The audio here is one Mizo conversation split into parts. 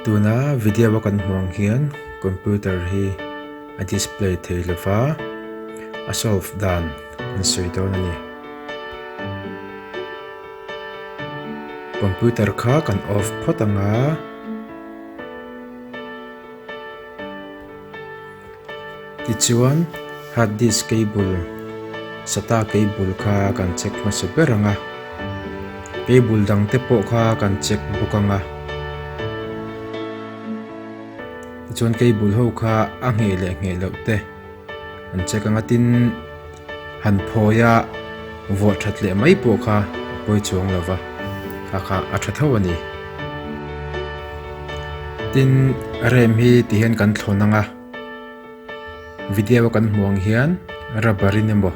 tuna video a kan hmuh ang hian computer hi a display thei lo va a solve dan an sawi dawn a ni computer kha kan off phawt ang a. Tichuan hard disk cable sata cable kha kan check hmasa ber ang a, cable dang te pawh kha kan check bawk ang a, tichuan cable ho kha a ngheh leh ngheh loh te. An check a ngatin han phawi a, vuah that leh mai pawh kha a pawi chuang lo va, kha kha a tha tho a ni. Tin rem hi ti hian kan thlawn ang a, video a kan hmuh ang hian rubber in emaw,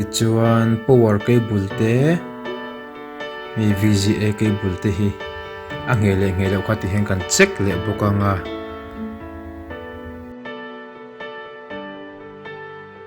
Tichuan power cable te hei VGA cable te hi a ngheh leh ngheh loh kha ti hian kan check leh bawk ang a.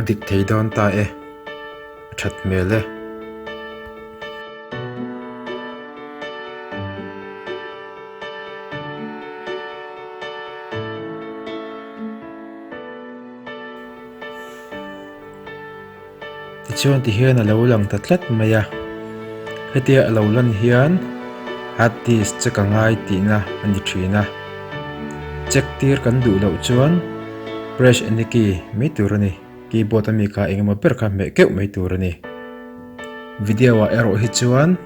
a dik thei dawn ta e, a that hmel e. Tichuan ti hian a lo lang ta tlat mai a, hetia a lo lan hian Harddisk check a ngai tihna a ni thin a. Check tir kan duh loh chuan press any key mai tur a ni, keyboard a mik ah eng emaw ber kha hmeh keuh mai tur a ni. Video ah erawh hi chuan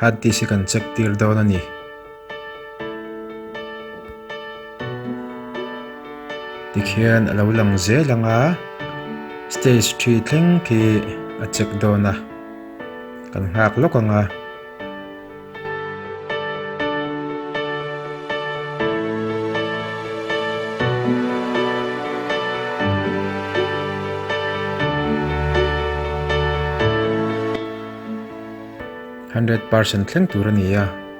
Harddisk hi kan check tir dawn a ni. Tikhian a lo lang zel ang a stage thi thleng khi a check dawn a kan nghak lawk ang a. Hundred percent thleng tur a ni a.